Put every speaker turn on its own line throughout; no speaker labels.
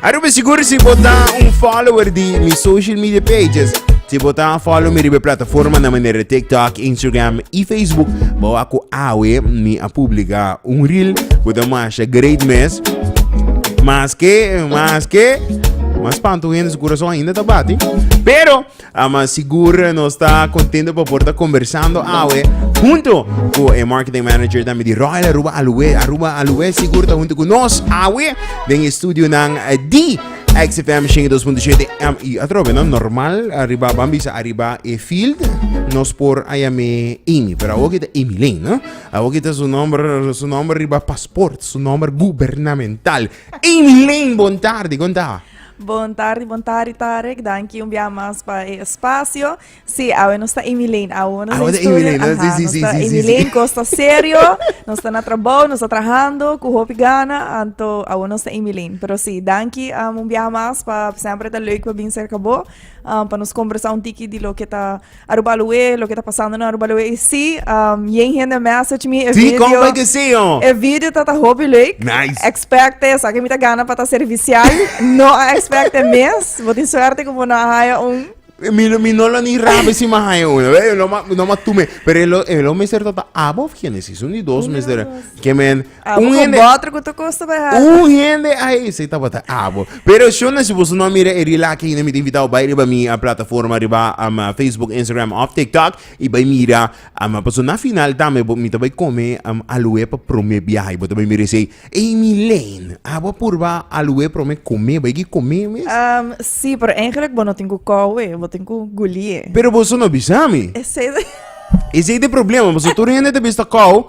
A Ruben sigur si bo ta un follower di mi social media pages. Si bo ta follow mi riba plataforma na manera di TikTok, Instagram i Facebook, bo wak ku awe mi a publika un reel ku ta masha great mes. Maske, maske, mas pantu hende su kurason ainda ta bati. Pero Ah, mas sigur nos ta contento pa por ta conversando awe junto cu e marketing manager tambi di Royal Aruba Aluwe. Aruba Aluwe sigur ta junto cu nos awe den e studio nan eh, di XFM 102.7 em, y atrobe no normal arriba ban bisa arriba e field nos por aya me Amy pero awo kita Amy Lane no awo kita su nombre su nombre riba paspoort su nombre gubernamental Amy Lane bon tarde konta Bon tardi, bon tardi Tarek, danki un bia mas pa e espacio. Si, sí, awe nos ta Emilene, awe nos awe ta Emilene, Aha, sí, sí, nos ta sí, Emilene, sí, costa serio, nos ta na trabajo, nos ta trabajando, cu hopi gana, anto awe nos ta Emilene. Pero si, sí, danki um, un bia mas pa sempre ta leuk pa bin cerca bo, um, pa nos conversa un tiki di lo que ta Aruba Loe, loke ta pasando na Aruba Loe. Y si, um, yen hende message mi e Sí, video. compa que sí, oh. E video ta ta hopi leuk. Nice. Expecte, sa que mi ta gana pa ta servicial. no a expecte mes. Bo tin suerte como no a haya un. Mi, no- mi no lo ni rabe si ma hay uno. Ve, no ma, no ma tume. Pero el, el o mister tata abo of Genesis. Un y dos mister. Que men, Abo con botro cu ta costa bay hard. Un hende ay se tabata abo. Pero shona si boso no mira e rila aki yina mi ta invitao bay riba mi a plataforma riba um, Facebook, Instagram of TikTok y bay mira. Um, paso na final tambe bo- mi ta bay come um, aluwe pa prome biaha y bo ta bay mira y say, Ey Mileine, abo a purba aluwe prome come, bay ki come mes? Um, sí, pero eigenlijk bo no tin cu cowe, bo tin cu gulie. Pero boso no bisa mi. Esey, Ese es de problema, paso tur hende ta bisa kou,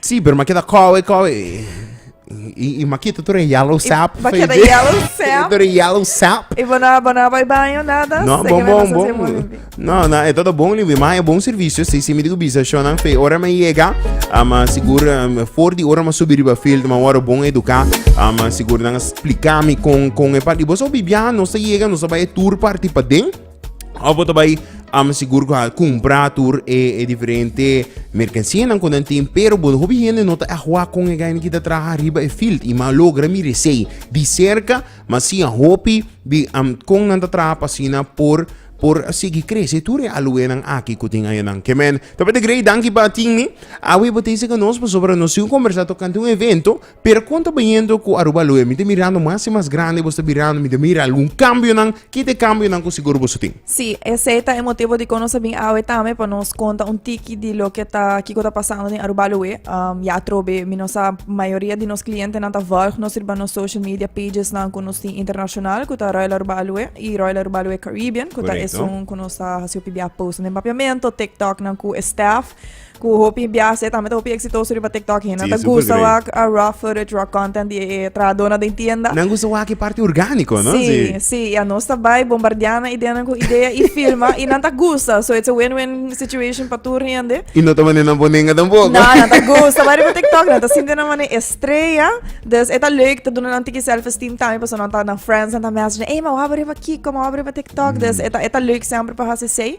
Sí, pero m'a keda kòwe, kòwe. I, i m'a kita tur e yellow I sap. m'a keda feje. yellow sap. Tur e yellow sap. I bo no, bo no bai baño, nada. No, Seki bon, me bon, pasa así, bon. mami. No, no, e todo bon, liwi, ma e bon servicio. Sí, sí, mi digo bisa, shonan fe. Ora me llega, ah, ma sigur, um, for di ora ma subi riba field, ma waro bon educa. Ah, ma sigur nan explica mi con, con e pa. Di bo so bibia, no se llega, no se bai e tour party pa den. Of bo ta bai am sigur ku a kumpra tur e e diferente merkansianan ku nan tin, pero bo hopi hende no ta ehua kon e gai kita traha riba e field i ma logra mira esei di serka, ma si a hopi di am kon nan ta traha pa asina por por sigui krese tur e aluenan aki ku tin añanan. Kemen, Tabata Grey, danki pa tin mi. Awe bo ta hise ku nos pasobra nos sigu kombersá tokante un evento Pero con ta bayendo cu Aruba Loe? Mi ta mirando mas y mas grandi, vos ta birando, mi ta mira algun cambionan, ki ta e cambionan cu sigur vos a tin? Sí, esey ta e motibo di con nos a bin awe tambe pa nos conta un tiki di loke ta, kico ta pasando den Aruba Loe. Ya atrobe mi no sa, mayoria di nos clientenan ta volg nos riba nos social media pagesnan cu nos tin internacional, cu ta Royal Aruba Loe y Royal Aruba Loe Caribbean, cu ta esun cu nos ta hasi hopi biaha posten den Papiamento, TikToknan cu e staff. Ku hopi biaha e tambe ta hopi eksitoso riba TikTok hende ta gusta wak a raw footage, raw content di e trahadornan den tienda. Nan gusta wak e parti orgániko, no? Si, si. I a nos ta bai bombardea nan ideanan ku idea i filma i nan ta gusta. So it's a win-win situation pa tur hende. I no ta mane nan bonenga tampoco. No, nan ta gusta bai riba TikTok, nan ta sinti nan mane estrella. Dus e ta leuk, ta duna nan tiki self-esteem tambe, paso nan ta, nan friendsnan ta message nan, ey, m'a wak bo riba Kiko, m'a wak bo riba TikTok. Dus e ta, e ta leuk semper pa hasi esei.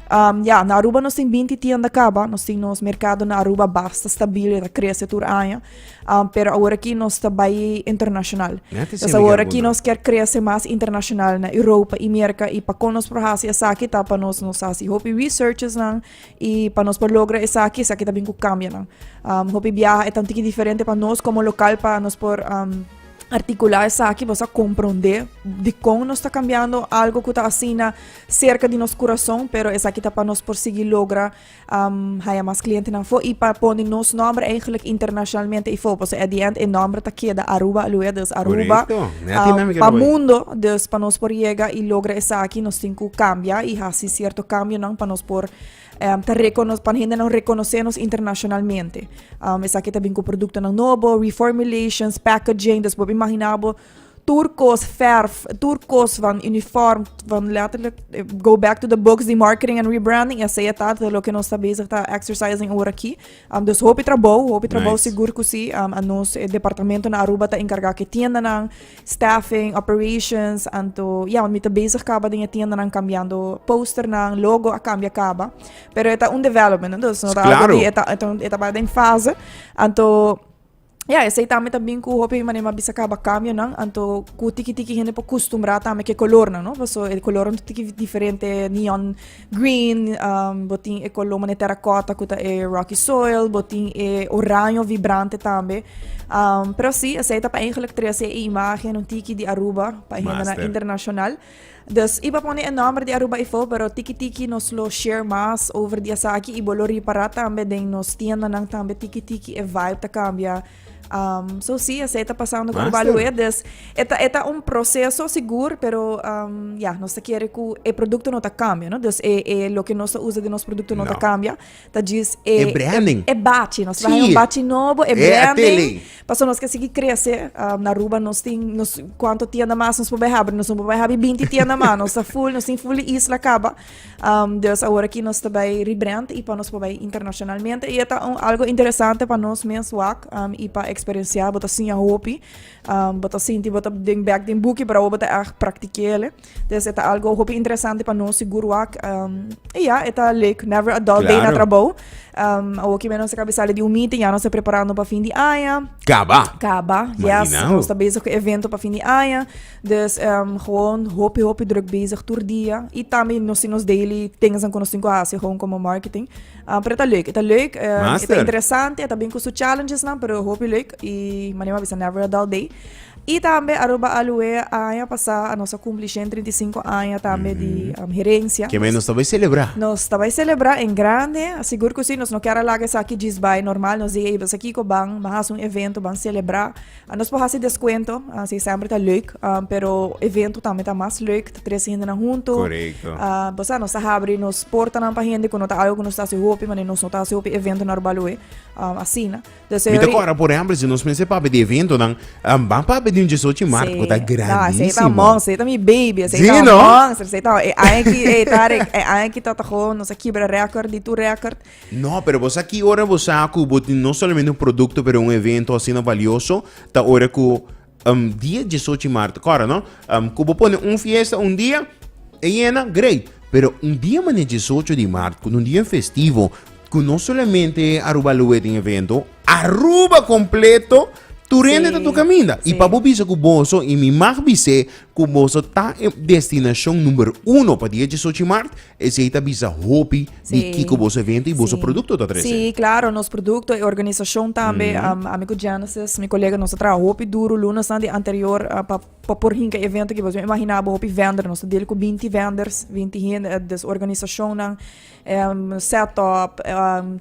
Um, ja, na Aruba nos tin binti tienda kaba, nos tin nos merkado na Aruba basta stabil, ta krese tur aña, um, pero awor aki nos ta bai internashonal. Entonces awor aki nos ker krese mas internashonal na Europa i Merka, i pa kon nos por hasi esaki ta pa nos nos hasi hopi researches nan, i pa nos por logra esaki, esaki ta bin ku kambia nan. Um, hopi biaha e ta un tiki diferente pa nos komo lokal pa nos por... Um, articular esaki, bosa comprende di kon nos ta cambiando algo ku ta asina serka di nos kurason pero esaki ta pa nos por sigui logra haya mas klientenan fo i pa pone nos nòmber eihgelik internashonalmente i fo paso at di end e nòmber ta keda Aruba aluwee dus Aruba pa mundo dus pa nos por yega i logra esaki nos tin ku kambia i hasi sierto kambionan pa nos por ta rekonosé pa hendenan rekonosé nos internashonalmente esaki ta bin ku produktonan nobo reformulations packaging dus bo a imagina bo. tur kos verf, tur kos van uniform, van letterlijk eh, go back to the books, die marketing and rebranding, en zij dat lo que nos bezig ta exercising ora aquí. Um, dus hopi trabou, hopi trabou nice. sigur kusi, um, a nos eh, departamento na Aruba ta encarga ke tienda nan, staffing, operations, anto, ja, want mi ta bezig kaba den je tienda nan cambiando poster nan, logo a cambia kaba, pero eta un development, dus no ta claro. algo di eta, eta, eta ba den fase, anto, Ya, esei tambe ta bin ku hopi manera mi a bisa kaba kambionan, anto ku tiki tiki hende por kustumbrá tambe ku e kolornan, no? Paso e kolornan ta tiki diferente, neon green, bo tin e kolor manera tèrakòta ku ta e rocky soil, bo tin e oraño vibrante tambe. Pero sí, esei ta pa einglek trese e imágenan tiki di Aruba pa e hindenan internashonal. Dus, i pa pone e nòmber di Aruba Ifou, pero tiki tiki nos lo share mas over di esaki i bo lo ripará tambe den nos tiendanan tambe tiki tiki e vibe ta kambia. Um, so si, esei ta pasando ku Aruba Master. Luwe, dus e ta, e ta un proseso sigur, pero um, ya, nos ta kere ku e produkto no ta kambia, no? Dus e, e loke nos ta usa den nos produkto no ta No. kambia, ta djis e e branding e bachi nos traha un bachi nobo e branding paso nos ke sigui krese na aruba nos tin nos kuanto tienda mas nos por bai habri nos no por bai habri binti tienda mas nos ta full nos tin full di isla kaba dus awor aki nos ta bai rebrand i pa nos por bai internashonalmente i e ta un algo interesante pa nos mes wak i pa eksperensia bo ta siña hopi bo ta sinti bo ta den bek den buki pero awor bo ta echt praktikel'e. Des e ta algo hopi interesante pa nos si guruak. Um, e ja, e ta leuk. Never a dull day na trabou. Um, awoki menos e kabisale di un meeting, ja nos e preparando pa fin di aña. Kaba. Kaba, yes. Imaginao. Nos ta bezig ku evento pa fin di aña. Dus um, gewoon hopi hopi druk bezig tur dia. I tambi nos si nos daily things an ku nos tin ku hasi gewoon como marketing. Um, pero e ta leuk, e ta leuk. Um, e ta Master. interesante, e ta bin ku su challenges nan, pero hopi leuk. I manema bisa never a dull day. I tambe Aruba Alue a aña pasá a nos a kumpli shèn trinta i sinku aña tambe di herensia. Kemei nos ta bai selebrá? Nos ta bai selebrá en grande, sigur ku si, nos no kier a laga esaki djis bai, normal nos diga ey bes aki ku ban ban hasi un evento ban selebrá, nos por hasi deskuento si sèmper ta leuk, pero evento tambe ta mas leuk ta tres hendenan huntu, pasá nos ta habri nos portanan pa hende ku no ta algu ku nos ta hasi hopi, manera nos no ta hasi hopi evento na Aruba Alue asina. Mi ta kòrda por ehèmpel si nos mester papia di eventonan, ban papia di un djes ochi mart ku ta grandísimo. Esei ta un monster, esei ta mi baby, esei ta un monster, esei ta e aña ki e Tarek, e aña ki ta ta go nos a kibra rèkòrt di tur rèkòrt. No, pero bo sa ki ora bo sa ku bo tin no solamente un produkto pero un evento asina balioso, ta ora ku Um dia diesocho i marto, kòrda no? Um ku bo pone un fiesta un dia e yena, great. Pero un dia manera diesocho di marto, ku un dia festivo, ku no solamente Aruba Loe tin evento, Aruba kompleto tur hende Sí, ta tur kaminda. I sí. pa bo bisa ku boso, i mi mag bis'é ku boso ta e destinashon number uno pa dia diesocho di marto, Esei ta bisa hopi di kiko boso evento i boso produkto ta trese. Sí, klaro, nos produkto e organisashon tambe. Ami ku Genesis, mi kolega, nos a traha hopi duru lunasnan di anterior pa por hinka e evento aki. Boso no imaginá bo hopi vender. Nos ta dil ku binti venders, binti hende des organisashonnan, setup,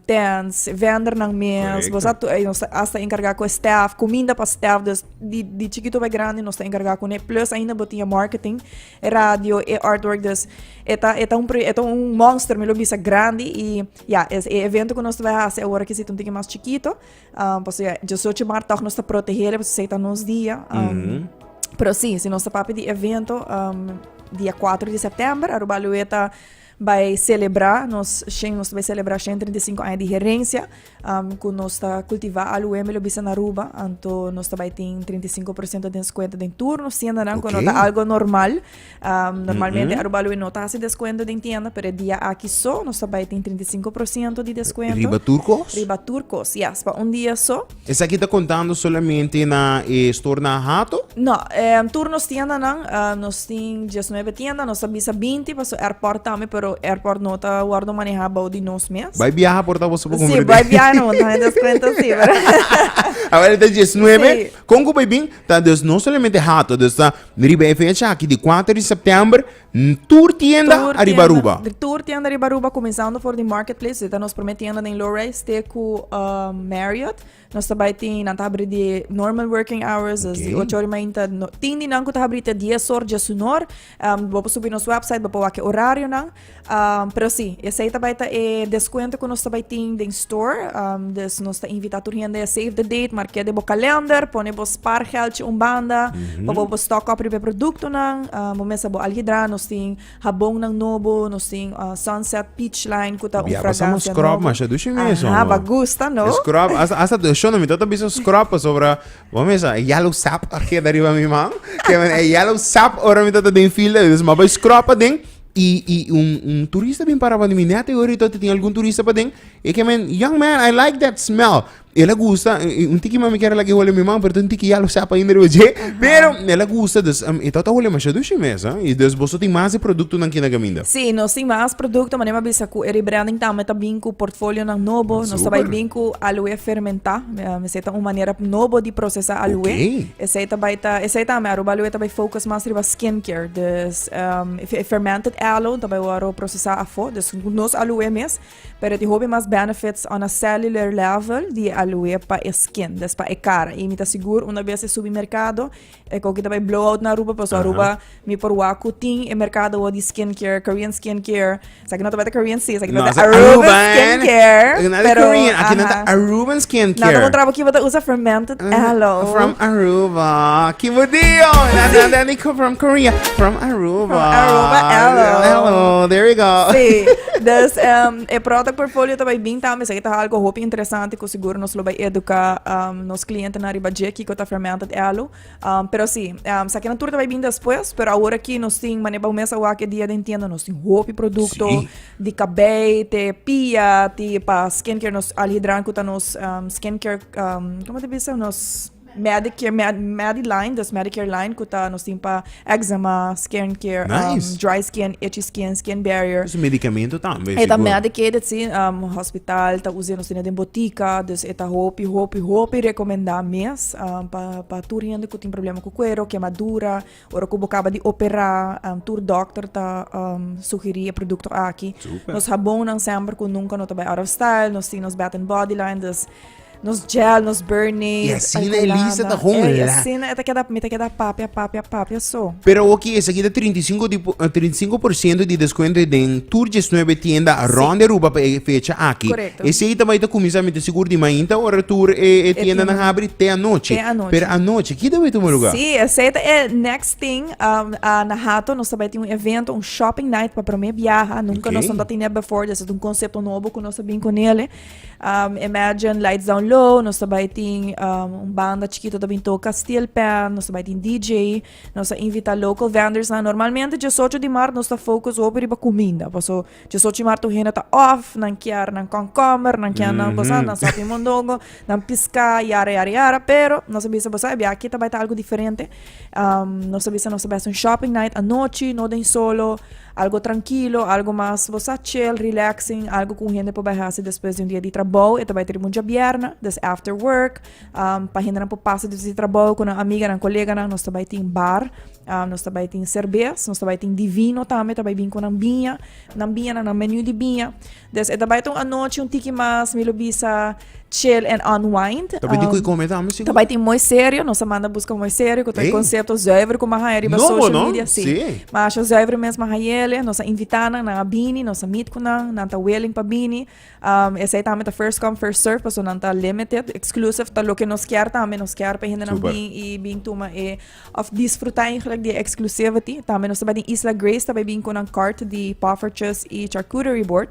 tents, vendernan mes. Boso a nos ta asta enkargá ku e staf, kuminda pa staf. Di chikito pa e grandi nos ta enkargá kuné. Plus ainda bo tin e marketing. e radio, e artwork. Dus e ta, e ta, un, e ta un monster, mi lo bisa grandi. I ja, es e evento ku nos ta bai hasi awor aki situ un tiki mas chikito. Um, paso ja, 18 mart tòg nos ta protegele, paso esei ta nos dia. Um, mm -hmm. Pero si, si nos ta papia di evento, um, dia 4 di september, Aruba Lue ta Bai selebrá nos shen, nos ta bai selebrá shen treinta i sinku aña di herensia ku nos ta kultivá alué mi lo bisa na Aruba. Anto nos ta bai tin treinta i sinku por siento di nos kuenta den tur nos tiendanan ku no ta algu normal. Normalmente Aruba Alué no ta hasi deskuento den tienda pero e dia aki so nos ta bai tin treinta i sinku por siento di deskuento. Riba tur kos? Riba tur kos, yes. Pa un dia so. Esaki ta kontando solamente na e store na Hato? No, tur nos tiendanan, nos tin diesnuebe tienda, nos ta bisa binti paso airport tambe, pero airport no ta wordo maneha bou di nos mes. Bai biaha por ta boso por compra den? Si, bai biaha no, ta hende cuenta si. Awor e ta diesnuebe, con cu bai bin? Ta, dus no solamente Hato, dus ta riba e fecha aki di cuater di september, N tur tienda ariba Aruba. Tur tienda, tur tienda riba Aruba kuminsando for di Market Place, su e ta nos promé tienda den low-rise te ku Marriott. Nos ta bai tin, nan ta habri di normal working hours, des di ocho ora i mainta. Tin di nan ku ta habri te dies or dje su nor. Bo por subi nos website bo por wak e orarionan. Pero si, esei ta bai ta e deskuento ku nos ta bai tin den. Store, dus nos ta invita tur hende save the date marke den bo kalender pone bo spaargeldje un banda pa bo por stock up riba e produktonan bo mes a bo al hidra nos tin habonnan nobo nos tin sunset peach line ku ta un fragancia nobo aha bo a gusta no scrub asta do shon mi tabata bisa scrub pasobra bo mes a yellow sap a keda riba mi man e yellow sap ora mi tabata den fila dus ma bai scrub aden Y y un un turista bin para pandi mi net e oir tin algun turista paden e ke men young man I like that smell el a gusta eh, eh, un tiki mami kere lak e hole mi man pero tin tiki ya lo sap ainda riba dje pero el a gusta dus um, e tata hole masha dushi mes ah y dus boso tin mas e producto nan kina gaminda Sí, nos tin más producto, maar neem a bisa ku e rebranding tambe ta bin ku portfolionan nobo. Nos ta bai Super. bin ku aloe fermentá. Eh, Esei ta un manera nobo di procesá aloe. Oké. Esei ta bai ta, esei tambe Aruba Aloe ta bai focus más riba skincare. Dus E fermented aloe ta bai ora ro procesa afo, dus cu nos aloe mes, pero e tin hopi mas benefits on a cellular level di e aloe pa e skin, dus pa e cara. Y mi ta sigur una bes e subi mercado, e coki ta bai blow out na Aruba, pasobra Aruba mi por wak cu tin e mercado di skin care, Korean skin care. Esaki no tabata Korean sis, esaki tabata Aruban Skincare. Pero, Nada Korean, aki nada Aruban Skincare. Nada un traba ki bota usa fermented aloe. From Aruba. Ki budio. Nada ni from Korea. From Aruba. From Aruba aloe. Aloe, there you go. Sí. Dus, um, e product portfolio tabay bin tambe, esaki ta algo hopi interesante ku seguro nos lo bay educa um, nos cliente na riba dje kiko ta fermented aloe. Um, pero si, um, sa tur ta bai bin despues, pero awor aki nos tin, mane bau mesa wak e dia den tienda, nos tin hopi produkto, si. di kabei, te pia, ti pa skincare, nos alhidran kuta nos um, skincare, um, como te bisa, nos Medicare, Med, Mediline, dus Medicare line, kuta nos tin pa Eczema, skin care, Nice. um, dry skin, itchy skin, skin barrier. Su medicamento tambe. E ta sigur. medicated, sí. Um, hospital ta usé, nos tiene den botica, dus e ta hopi, hopi, hopi recomendá mes um, pa, pa tur hende cu tin problema cu cuero, quemadura, ora cu bo caba di operá, um, tur dokter ta um, sugerí e producto aki. Super. Nos habonnan semper cu nunca no ta bai out of style, nos tin nos Bath and Body line, dus Nos gel, nos Bernade. Y así na Elisa ta con Ey, así na eta queda, mi ta queda papia, papia, papia, so. Pero ok, esa queda 35, di, 35 eh, di descuento den tur 19 tienda sí. rond de Aruba para fecha aquí. Correcto. Ese ahí también ta comienza mi te seguro di mainta ora tur eh, eh, tienda na abri te anoche. Te anoche. Pero anoche, kita betu mo lugar? Sí, ese ta eh, next thing, um, uh, na hato nos tabati un evento, un shopping night para primer viaje, nunca okay. nos no tiene before, desde un concepto nuevo que nos bin con ele. Um, Imagine Lights Down Low, nos ta bai tin um, un banda chiquito ta bin toca Steel Pan, nos ta bai tin DJ, nos ta invita local vendors na. Normalmente 18 di maart nos ta focus op riba comida, paso 18 di maart tu hena ta off, nan kier nan komkommer, nan kier nan bosa, nan sapi mondongo, nan pisca, yara yara yara, pero nos a bisa bosa, e biaki ta bai ta algo diferente. Um, nos a bisa nos ta bai un shopping night anochi, no den solo. Algo trankilo, algo mas bo sa chill, relaxing, algo ku un hende por bai hasi despues di un dia di trabou. E ta bai ta riba un djabièrnè, des after work. Pa hendenan por pasa despues di trabou ku nan amiganan, koleganan, nos ta bai tin bar. Nos ta bai tin serbes, nos ta bai tin di vino tambe. Ta bai bin ku nan biña. Nan biñanan, nan meniu di biña. Des e ta bai ta un anochi un tiki mas mi lo bisa chill and unwind. Ta bai tin um, kui come tami sigur? Ta bai tin mooi serio, nos a manda busca mooi serio, con hey. concepto zuiver como haya riba no, social no? media, sí. sí. Maar asho zuiver mes ma hayele, nos a invita nan, nan a bini, nos a meet con nan, nan ta willing pa bini. Um, esa ta met first come first serve, paso nan ta limited, exclusive, ta lo que nos kier también, nos kier pa gente nan bin y bin tuma e Òf disfrutá eindelijk di e exclusivity. Tambe nos ta bai den Isla Grace, ta bai bin cu nan kort di poffertjes y charcuterie board.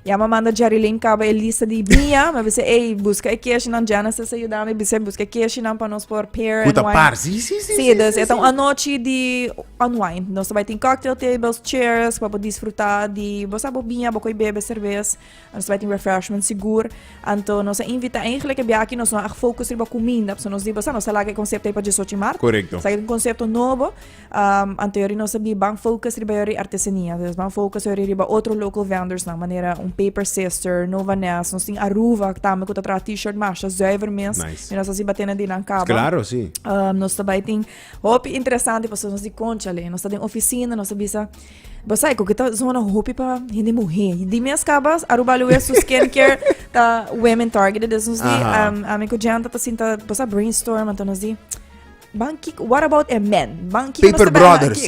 Ya mi a manda Jerry Lane caba e lista di mia. Mi a bisa, ey, busca e keshinan. Genesis a yuda mi, bisa, busca e keshinan pa nos por pair and wine. Cu ta par, sí, sí, sí, sí, sí, dus e ta un anochi di unwind. Nos ta bai tin cocktail tables, chairs pa bo disfrutá di, bo sa, bo bia, bo coi bebe cervez. Nos bai tin refreshment sigur, anto nos a invita eigentlek e biaha aki nos no a fokus riba kuminda, pasobra nos di bo sa nos a laga e konsepto ei pa dies ocho di mart, Korekto. sa e ta un konsepto nobo, anto yori nos a di ban fokus riba yori artesania, nos ban fokus yori riba otro local vendors-nan, manera un Paper Sister, Nova Nest, nos tin Aruba tambe ku ta traha T-shirt masha zùiver mes, Nice. mi nos a si ba tene di nan kaba. Klaro, si. Nos ta bai tin hopi interesante pasobra nos di, konchale, nos ta den ofisina, nos a bisa. Bo sai ku kita zona hopi pa hende muhe. Di mes kabas Aruba Luwe su skincare ta women targeted. Dus nos di Aha. um, ami ku Janta ta sinta bo sa brainstorm anto nos di ban kik what about e men? Ban kiko Paper Brothers.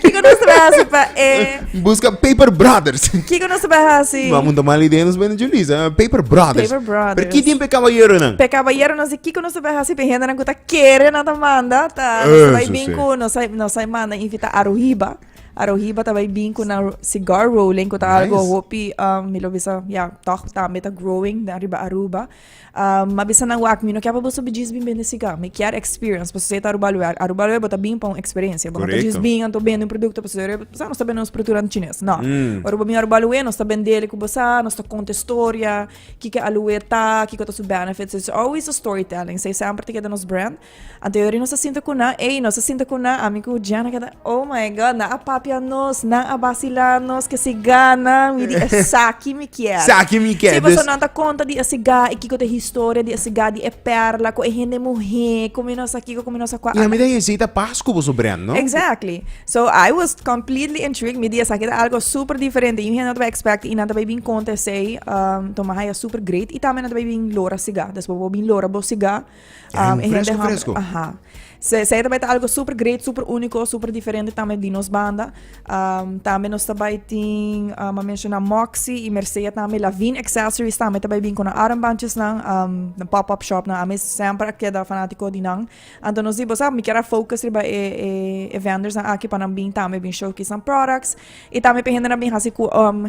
Kiko nos te hasi pa e Busca Paper Brothers. Kiko nos te hasi? Vamos montar mal idea nos bende Julissa. Paper Brothers. Paper Brothers. Pero ki tiempo caballero nan? Pe caballero nos di kiko nos te hasi pe hende nan ku ta Kere nan ta manda ta nos ta bai bin ku nos ta nos ta manda invita aruhiba aruhiba ta bai bin ku nan cigar rolling ku ta algo hopi mi lo bisa ya tog tambe ta growing den riba aruba mi a bisa nan wak mi no kier pa boso djis bin bende cigar mi kier experience pasobra si e ta aruba lue aruba lue bo ta bin pa un experiencia bo no ta djis bin anto bende un producto pasobra yere bo sa nos ta bende nos producto nan chines no ora bo bin aruba lue nos ta bendele ku bo sa nos ta conta historia Kiko a luer ta, kiko ta su benefits. It's always a storytelling. Sa e semper ta keda nos brand. Anteori nos a sinta ku nan, ey, nos a sinta ku nan, ami ku Jen a keda, oh my God, nan a papia nos, nan a basila nos, ke siga nan, mi di esaki mi kier. Saki mi kier. Si, pasobra nan ta konta di e siga i kiko ta e historia di e siga, di e perla, ku e hende muhé, komo nos a kiko, komo nos a kua. I ami ta hesita pas ku boso brand, no? Exactly. So I was completely intrigued, mi di esaki ta algo super diferente, yin hende no ta bay expect y nan ta bay bin conta esey, um, toma haya super great y tambe nan ta bay bin lora siga, despues bo bin lora bo siga, Ya, um, un e hende fresco, hum- fresco. aha. So esey ta bay ta algo super great, super unico, super diferente tambe di nos banda, um, tambe nos ta bay tin, um, a menciona Moxy y Mercea tambe, Lavin Accessories tambe ta bay bin cu nan armbandjes nan, um, den pop up shop nan, a mi semper a keda fanatico di nan. Anto nos di bos ah mi kier a focus riba e e vendornan aki pa nan bin tambe bin showcase nan products y tambe pa e hendenan bin hasi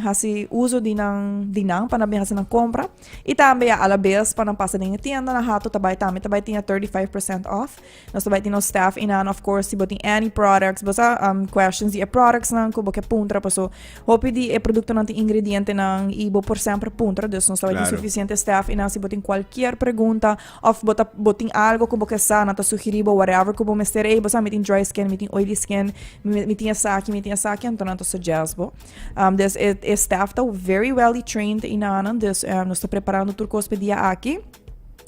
hasi uso di nan di nan pa nan bin hasi nan compra y tambe ya alabes pa nan pasa den e tienda na hato ta bay tambe ta bay tin e thirty five percent off nos ta bay tin nos staff einan of course si bo tin any products bo sa questions di e productsnan cu bo ke puntra paso hopi di e productonan tin ingredientenan y bo por semper puntra dus nos ta bay tin suficiente staff einan si bo tin cualkier pregunta. Of bo ta bo tin algo ku bo ke sa nan ta sugerí bo whatever ku bo mester ey bo sa mi tin dry skin mi tin oily skin mi tin esaki mi tin esaki anto nan ta suggest bo des e staff ta very welly trained i nanan des nos ta preparando tur kos pa e dia aki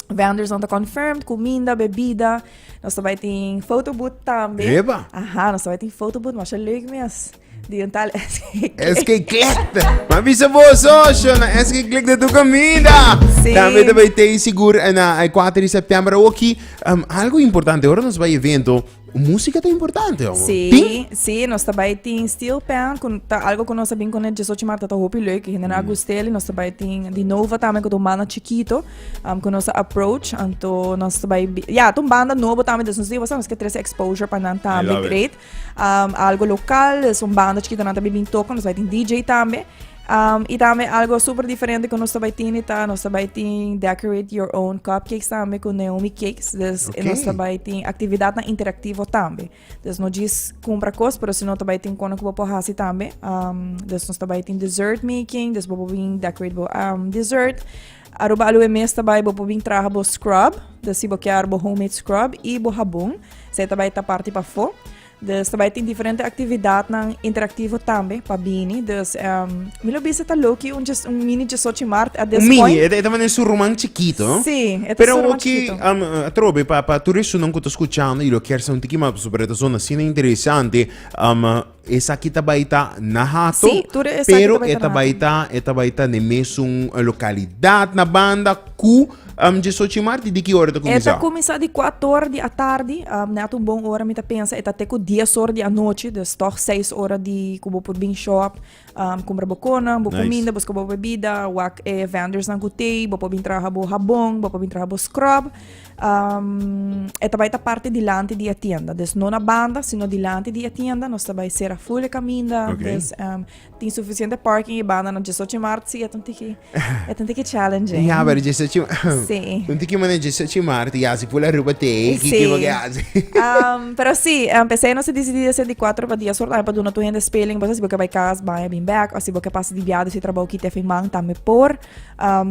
vendors nan ta confirmed kuminda bebida nos ta bai tin foto booth tambe epa aha nos ta bai tin foto booth masha leuk mes. Di un tal SK. SK Click. Ma bisa bo socio, na SK Click de tu comida. Sí. También te bij Tei Sigur en uh, 4 de septiembre. Oki, um, algo importante, ahora nos bij evento, música te importante, homo. Sí, Tin? sí, nos está bij tin steel pan, con ta algo con nos bin con el 18 marta ta hopi leuk, y gente na gustel, y nos está bij tin di nova también con un banda chiquito, um, con nos approach, anto nos está bij, bi- ja, ton banda novo también, dus nos digo, nos que tres exposure pa nan también, love it. great. Um, algo local, es un banda chiquito nan también bin toca, nos bai tin DJ también. Um, y también algo super diferente que nos bai tin está, nos bai tin decorate your own cupcakes también con Naomi Cakes. Dus okay. nos bai tin actividad na interactivo también. Dus no jis compra cos, pero si no bai tin kono que bopo hasi también. Um, dus nos bai tin dessert making, dus bopo bin decorate bo um, dessert. Aruba Aloe mes ta bai bo por bin traha bo scrub, dus si bo kier bo homemade scrub i bo habon, esei ta bai ta parti pafó. Dus ta bai tin diferente aktividatnan interaktivo tambe pa bini, dus em mi lo bisa ta loki un dje un mini djesochi mart at this Un mini, point. e, e ta manda su ruman chikito, no? Sí, e ta Pero su ruman oki, chikito. am, eh, atrobe, pa, pa tur esunnan ku ta skuchando i lo kier sa un tiki mas, pasobra e ta sona asina interesante, am, Esaki ta bai ta na Hato, Sí, tur esaki ta pero bai e ta ta na bai Hato. ta e ta bai ta n'e mesun eh, lokalidat na banda ku em Djesochi Marti. Di ki ora e ta E ta kuminsá? kuminsá di kuato ora di atardi, am, nèt un bon ora mi ta pensa, e ta te ku dies ora di anochi, dus tòg seis ora di ku bo por bin shòp, am, kumbra bo konan, bo Nice. kuminda, bo skoba bo bebida, wak e vendors nan ku tei, bo por bin traha bo habon, bo por bin traha bo scrub, e ta bai ta parti dilanti di e tienda. Dus no na banda, sino dilanti di e tienda. Nos ta bai sera full e kaminda. Okay. Dus um, tin suficiente parking e banda na 18 maart. Si, et un tiki, et un tiki challenging. Ja, pero 18 maart. Si. Un tiki mané 18 maart. Ja, si pula ruba te, ki ki wat hace. um, pero si, um, pese no se decidi de 64 pa dia sort, pa duna tu hende speling, bosa si boke bai kas, bai bin back, o si boke pasa di viado si trabou ki te fin man, tambe por.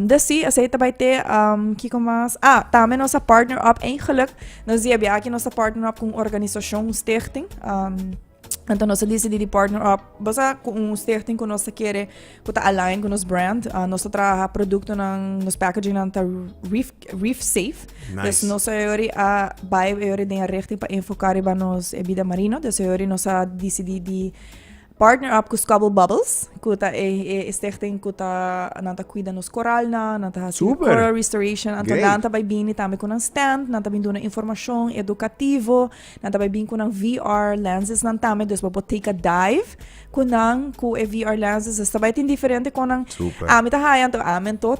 dus si, esei ta bai te, um, kiko mas? Ah, tambe nos a partner up, eigenlijk, nos di abia aki nos a partner up con organisacion, stichting. Um, Anto nos decidi di partner up basa cu un stichting cu nos kere cu ta align cu nos brand. Uh, nos trabaja producto nan, nos packaging nan ta reef, reef safe. Nice. Dus nos ayori a bai ayori den richting pa enfocar riba nos eh, vida marino. Dus ayori nos a decidi di Partner up ku Scobble Bubbles, ku ta e e stichting ku ta nan ta kuida nos koralnan, nan ta hasi coral restoration. Anto nan ta bai bini tambe ku nan stand, nan ta bin duna informashon edukativo, nan ta bai bin ku nan VR lensesnan tambe, dus bo por take a dive ku nan ku e VR lenses. Esta bai tin diferente kon nan ami ta haya anto ami anto.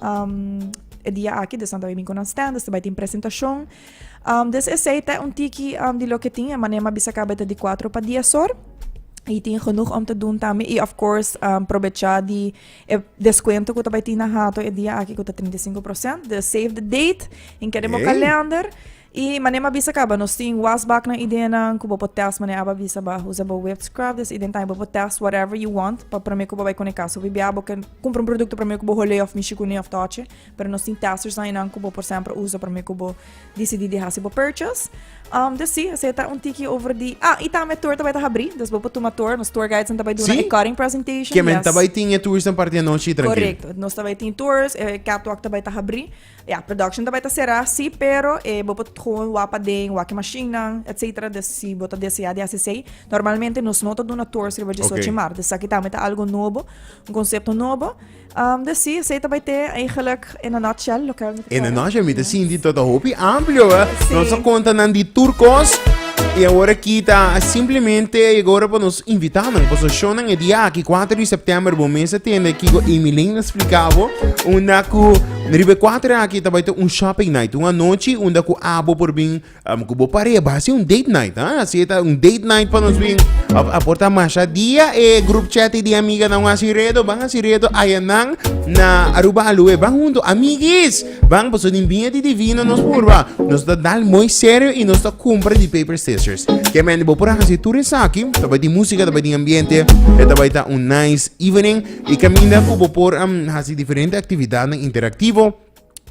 Um, e dia aki, de Santo Domingo nan stand, este bai tin presentacion. Um, des esei te un tiki um, di lo que tin, e manema bisa cabeta di 4 pa 10 hor. Y tin genoeg om te doen también. Y of course, um, probecha di e descuento que tabay tin na hato e dia aki que ta 35%. De save the date, en kere mo calendar. I mane m'a bisa kaba, nos tin was bak nan ideanan ku bo por tèst mane aba bisa ba usa bo whipped scrub des ident ai bo por tèst whatever you want pa promé ku bo bai kuné kas. Hopi bia bo ke kumpra un produkto promé ku bo hol'é òf mishi kuné òf tòchi pero nos tin testers ainan ku bo por semper usa promé ku bo disidí di hasi bo purchase. Des si, esei ta un tiki over di ah i tambe e tour ta bai ta habrí des bo por tuma tour, nos tour guidesnan ta bai duna e cutting presentation, yes. Ke men ta bai tin e toursnan parti anochi i trankil. Korekto. Nos ta bai tin tours, e catwalk ta bai ta habrí Ya, production ta bai ta será, sí, pero eh bo por gewoon wak paden, wak e mashinnan, etcetera, des si bo ta deseá di hasi esei. Normalmente nos no ta duna tours riba disochu di martes, esaki tambe ta algo nobo, un concepto nobo. Am, des sí, esei ta bai te eigenlijk in a nutshell loke mi ta En de kere. noche mi te sinti tot a hopi amplio, hè. Sí. Nos a konta nan di tur kos. I awor aki ta simplemente a yega ora pa nos invitá nan. Paso shownan e dia aki, 4 di sèptèmber, bo mes a tende aki ku Amy Lane a splika bo. Unda ku Riba e kuater aki ta bai ta un shopping night, un anochi unda ku abo por bin ku bo pare, a bai a ser un date night, a si ta un date night pa nos bin, a por ta masha dia e group chat di e amiganan wan a hasi redo, ban hasi redo ayanan na Aruba Aloe, ban huntu amiguis, ban pasobra den biña di divino nos purba, nos ta dal mooi serio i nos ta kumpra di paper scissors, ke mende bo por a hasi tur esaki, ta bai tin música, ta bai tin ambiente, e ta bai ta un nice evening. E kaminda ku bo por hasi diferente aktividatnan interaktivo,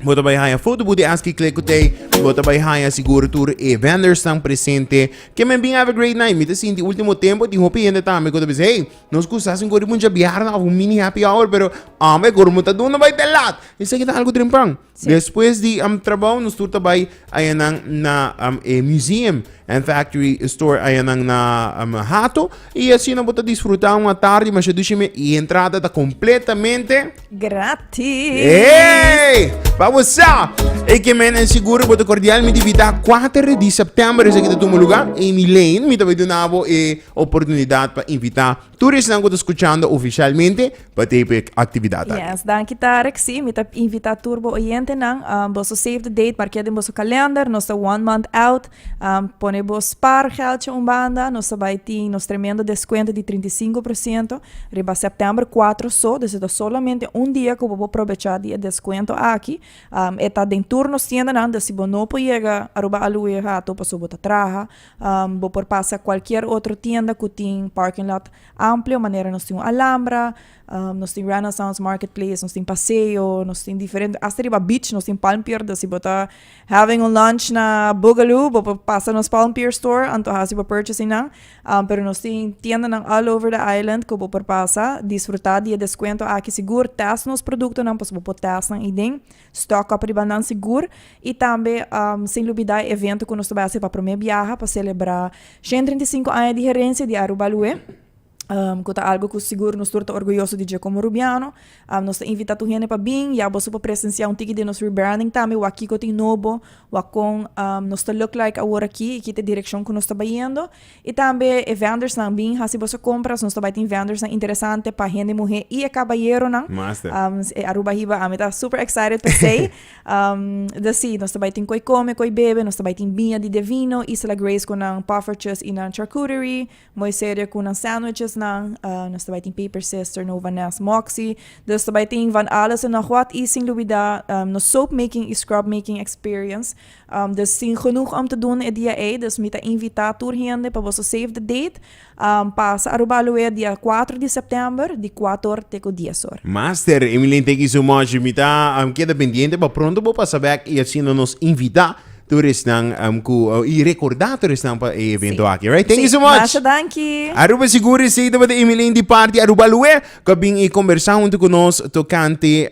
Bo ta bai haña foto bu di aski kle ku tei i bo ta bai haña sigur tur e vendersnan presente. Ke men bin have a great night. Mi ta sinti e ultimo tempo tin hopi hende tambe ku ta bisa, hey, nos kusa hasi un koribunsha biaha òf un mini happy hour, pero amba e koromun ta duna bai te lat. Esaki ta algu trempan. Despues di um trabou nos tur ta bai ayanan na um, e museum and factory store ayanan na um, Hato y asina bo ta disfruta un atardi masha dushime y entrada ta completamente Gratis! Hey! Babosa! E que men en seguro bo ta cordialmente invita 4 di september esa que ta tuma lugar Amy Lane mi ta bai dunabo e oportunidad pa invita Tur esnan cu ta scuchando oficialmente pa ta hipo e actividad aki. Yes, danki Tarek. Sí, mi ta invita tur bo oyentenan, um, boso save the date, mark'é den boso kalender, nos ta one month out, um, pone bo spaargeldje un banda, nos ta bai tin nos tremendo descuento di trinta i sinku por siento riba sèptèmber kuater so, dus e ta solamente un dia ku bo por probechá di e descuento aki, um, e ta den tur nos tiendanan, dus si bo no por yega Aruba Aloe hato pasobra bo ta traha, Bo por pasa cualkier otro tienda cu tin parking lot amplio manera nos tin un Alambra, nos tin Renaissance Market Place, nos tin Paseo, nos tin diferente hasta riba beach nos tin Palm Pier dus si bo ta having un lunch na Boogaloo bo por pasa nos Palm Pier Store antoha haci bo purchasing nan pero nos tin tiendanan all over the island cu bo por pasa disfruta di e descuento aki sigur test nos productonan pasobra bo por test nan aden. Stock up riba nan sigur y tambe sin lubida e evento cu nos ta bay hacer pa prome biaha pa celebra shent treinta y sinku aña di herencia di Aruba Lue cu ta algo cu sigur nos tur ta orguyoso di dje como Rubiano. Nos ta invita tur hende pa bin y a boso por presencia un tiki di nos rebranding tambe wak kico tin nobo wak con nos ta look like awor aki y ki ta e direccion cu nos ta bayendo. I tambe e vendersnan bin hasi boso compras, nos ta bai tin vendersnan interesante pa hende muhe i e cabayeronan. Master. Um, e Aruba hiba, ami ta super excited pa esey. Um, dus si, nos ta bai tin koe come, koe bebe, nos ta bai tin biña di de vino, Isela Grace cu nan poffertjes i nan charcuterie, Mooi Serie cu nan sandwichesnan, uh, nos ta bai tin Paper Sister, Nova Nest, Moxie. Dus ta bai tin van alles en nog wat, i sin lubida, um, nos soap making i scrub making experience. Dus tin genoeg om te doen e dia ey, dus mi ta invita tur hende pa boso save the date, pasa Aruba Aloe dia cuatro di september di cuator te cu dies or. Master Emilyn thank you so much mi ta keda pendiente pa pronto bo pasa back y asina nos invita tur esnan cu y recorda tur esnan pa e evento aki right thank you so much. Masha danki. Aruba Sigur Estate tabata Emilyn di parti Aruba Aloe cu a bin y conversa hunto cu nos tocante.